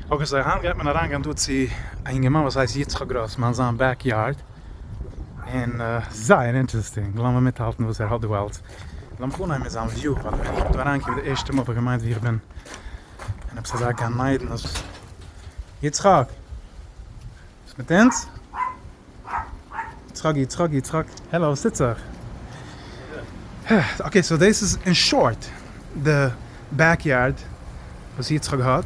אקעי סאו היינט גייט מען אריין גיין דא צו א יונגערמאן וואס הייסט יצחק גראסמאן זיין בעק יארד און זייער אינטערעסטינג לאמיר מיטהאלטן וואס ער האט דא אלץ לאמיך אנהייבן מיט זיין וויו ווייל ווען איך בין דא אריין געקומען די ערשטע מאל האב איך געמיינט ווי איך בין אין עפעס אזא גן עדן יצחק וואס מיט אונז? יצחק יצחק יצחק העלא וואס טוט זיך? אקעי סאו דאס איז אין שארט די בעק יארד וואס יצחק האט,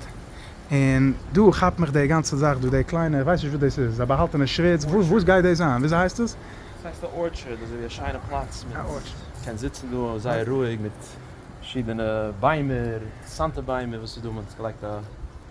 און דא כאפט מיך די גאנצע זאך דא די קליינע איך ווייס נישט וואס דאס איז א באהאלטענע שוויץ וואס גייט דאס זיין וויאזוי הייסט עס? דאס הייסט א ארטשערד אזוי ווי א שיינע פלאץ מיט קען זיצן דא זייער רואיג מיט פארשידענע ביימער אינטערעסאנטע ביימער וואס איז דא מען האט געלייגט א.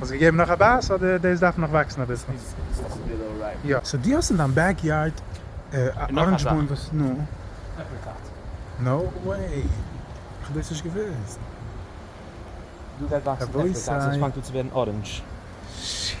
האסט געגעבן נאך א בייס אדער דאס דארף נאך וואקסן אביסל? יא. סאו דו האסט אין דיין בעק יארד א אראנדזש בוים וואס נו? עפריקאט. נאו וועי! כ'האב דאס נישט געוואוסט. דא גייט וואקסן עפריקאט, ס'האט פאנגט אן צו ווערן אראנדזש. שיעט!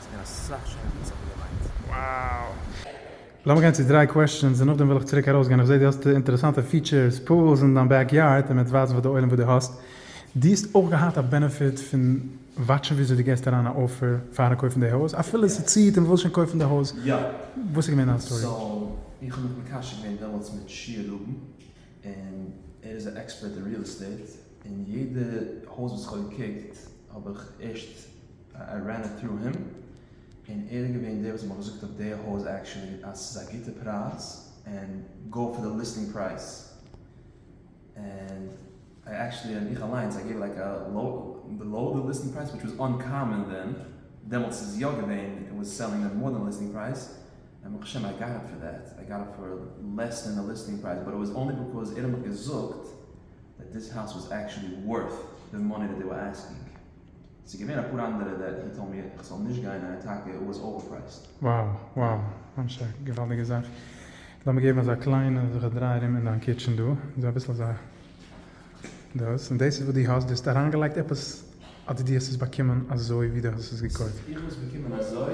ס'איז געווען אסאך שיינע ווערטער וואס איך האב געליינט. Wow! לאמיר גיין צו דריי קוועסטשענס און נאכדעם וויל איך צוריק ארויסגיין, איך זעה דו האסט אינטערעסאנטע פיטשערס, פולס אין דיין בעק יארד און מען האט ווייזן פאר די עולם וואס דו האסט, דו האסט אויך געהאט א בענעפיט פון וואטשן וויאזוי דו געסט אריין א אופער פארן קויפן די הויז אפילו עס ציעט און מען וויל שוין קויפן די הויז, וואס איז געווען דיין סטארי? סאו איך האב מיך מקשר געווען דעמאלטס מיט שי ראובן און ער איז א עקספערט אין ריעל עסטעיט און יעדע הויז וואס איך האב געקוקט האב איך ערשט. איי רען איט טרו הים, און ער איז געווען דער וואס האט מיר געזאגט אויף די הויז עקשעלי אז ס'איז א גוטע פרייז און גאו פאר די ליסטינג פרייז, און איי עקשעלי און איך אליינס איי געיוו לייק א בילאו די ליסטינג פרייז וויטש וואס אנקאמאן ווען דעמאלטס איז יא געווען איט וואס סעלינג דעם מאר דען ליסטינג פרייז און ברוך השם איי גאט איט פאר דעט איי גאט איט פאר לעס דען די ליסטינג פרייז באט איט וואס אנלי ביקאוז ער האט מיך געזאגט דעט דיס האוז וואס עקשעלי ווארט די מאני דעט דעי ווער עסקינג. ס'איז געווען אפאר אנדערע דעט הי טאלד מי איך זאל נישט גיין און אטאקע איט וואס אווער פרייסט. Wow wow ממש א געוואלדיגע זאך. לאמיר געבן אזא קליינע זיך א דריי ארום אין דיין קיטשען דא. זיי אביסל אזא דאס און דאס איז וואס דו האסט. דו האסט אריינגעלייגט עפעס אדער דו האסט עס באקומען אזוי ווי דו האסט עס געקויפט? איך האב עס באקומען אזוי.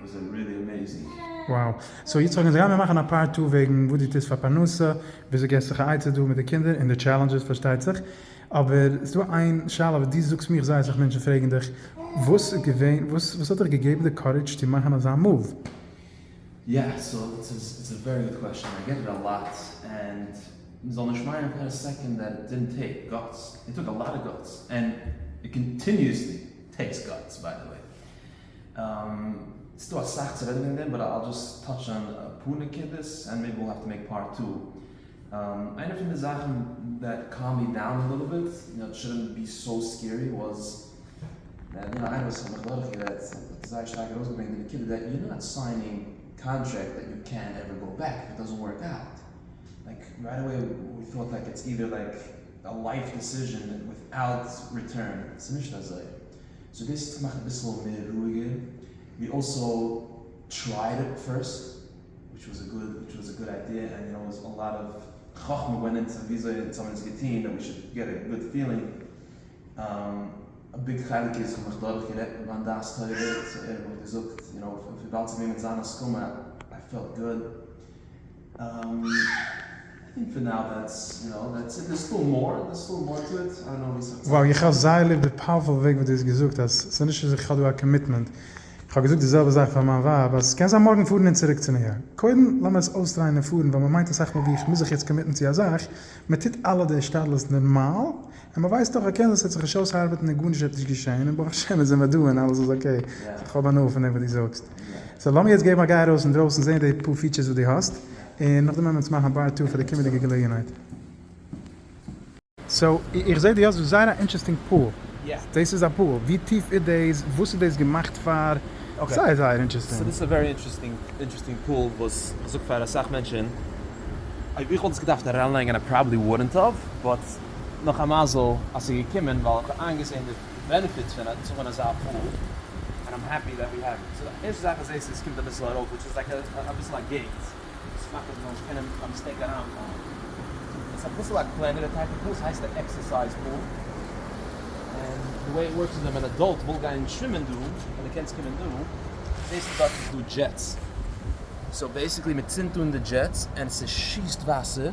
וואס זענען ריעלי עמעיזינג. Wow. סאו יצחק אונז גיימיר מאכן א פארט טו וועגן וואס דו טוסט פאר פרנסה, וויאזוי געסטו זיך א עצה דא מיט די קינדער און די טשעלענדזשעס פארשטייט זיך, אבער ס'דא איין שאלה וואס דו זאגסט מיר איך זעה אסאך מענטשן פרעגן דיך, וואס איז געווען וואס וואס האט דיך געגעבן די קארידזש צו מאכן אזא מאוו? יא, סאו איטס איטס א ווערי גוד קוועשאן, איי געט איט א לאט, ענד מ'זאל נישט מיינען פאר א סעקאנד דעט איט דידנט טעיק גאטס, איט טאק א לאט אוו גאטס, ענד איט קאנטיניוסלי טעיקס גאטס ביי די וועי. ס'דא אסאך צו רעדן וועגן דעם באט אייל דזשאסט טאטש אן אפאר נקודות ענד מעיבי וויל האוו טו מעיק פארט טו. איינע פון די זאכן דעט קאלמד מי דאון א ליטל ביט, נאט שודנט בי סאו סקערי, וואס דער דינער איינער וואס איך האב מיך דורך גערעדט האט זייער שטארק ארויס געברענגט די נקודה דעט יו נאט סיינינג קאנטרעקט דעט יו קען נעווער גאו בעק איף איט דאזענט ווארק אוט. לייק רייט אוועי ווי טאוט לייק איטס אידער לייק א לייף דיסיזשען וויט אוט ריטורן. ס'נישט אזוי. סאו דאס האט געמאכט אביסל מער רואיגער, ווי אלסא טרייעד איט פירסט וויטש וואס א גוד וויטש וואס א גוד איידיע ענד יו נאו א לאט אוו חכמה ווענט אינטו וויאזוי אונז האבן עס געטון דעט ווי שוד געט א גוד פילינג, א ביג חלק איז כ'האב מיך דורך גערעדט מיט מיין דעת תורה סאו ער האט מיך געזאגט יו נאו וויבאלד ס'איז געווען מיט זיין הסכמה איי פעלט גוד. וואו איך האב זייער ליב די פאוערפול וועג וואס דו האסט געזאגט אז ס'איז נישט אז איך האב דא א קאמיטמענט, איך האב געזאגט די זעלבע זאך פאר מיין ווייב אז ס'קען זיין מארגן פארן און צוריק צו ניו יארק, קודם לאמיר עס אויסטרייען און פארן ווייל מ'מיינט אסאך מאל ווי איך מוז זיך יעצט קאמיטן צו א זאך, מ'טוט אלע די השתדלות נארמאל און מען ווייסט אויך אקערנט אז עס וועט זיך נישט אויסארבעטן און גארנישט וועט נישט געשען און ברוך השם איז עמער דא און אלעס איז אקעי, סאו איך האב הנאה פון דעם וואס דו זאגסט. סאו לאמיר יעצט געבן א גיי ארויס אינדרויסן זען די פאר פיטשערס וואס דו האסט און נאכדעם וועמען אונז מאכן א פארט טו פאר די קומענדיגע געלעגנהייט. סאו איך זעה דו האסט דא זייער א אינטשערסטינג פאול, דאס איז א פאול, ווי טיף איז דאס, וואס איז דאס געמאכט פאר, זייער זייער אינטשערסטינג. סאו דאס איז א ווערי אינטשערסטינג פאול וואס זאגט פאר אסאך מענטשען, אויב איך וואלט עס געדארפט אריינלייגען איי פראבעלי וואלדנט האב, באט נאך א מזל אז ס'איז געקומען ווייל כ'האב איינגעזעהן די בענעפיטס פון זאגן אזא פאל ענד איים העפי דעט ווי העוו איט. סאו ערשטע זאך איז עס עס קומט אביסל ארויף וויטש איז לייק אביסל א געיט וואס מאכט אז מ'זאל נישט קענען ביי מיסטעיק אריינפאלן. עס איז אביסל א קלענערע טייפ אוו פול, ס'הייסט א עקסערסייז פול און די וועי איט ווארקס איז אז ווען אן עדאלט וויל גיין שווימען דא און די קענסט קומען דא זעהסטו דארט איז דא דזשעטס סאו בעיסיקלי מ'צינדט אן די דזשעטס און ס'שיסט וואסער.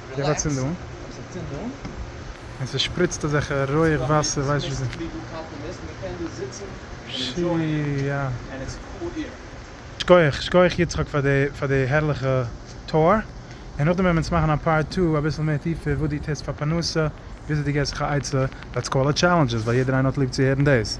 געב א צינדונג. און ס'שפריצט אזעלכע רויעך ווייסע ווייסט נישט וואס. שכוח שכוח יצחק פאר די פאר די הערליכע טור, און נאכדעם ווען מ'צ מאכן א פארט טו אביסל מער טיפער וואס די טוסט פאר פרנסה וויאזוי די געסט זיך א עצה, דעטס קאלד א טשעלענדזש ווייל יעדער איינער האט ליב צו הערן דאס.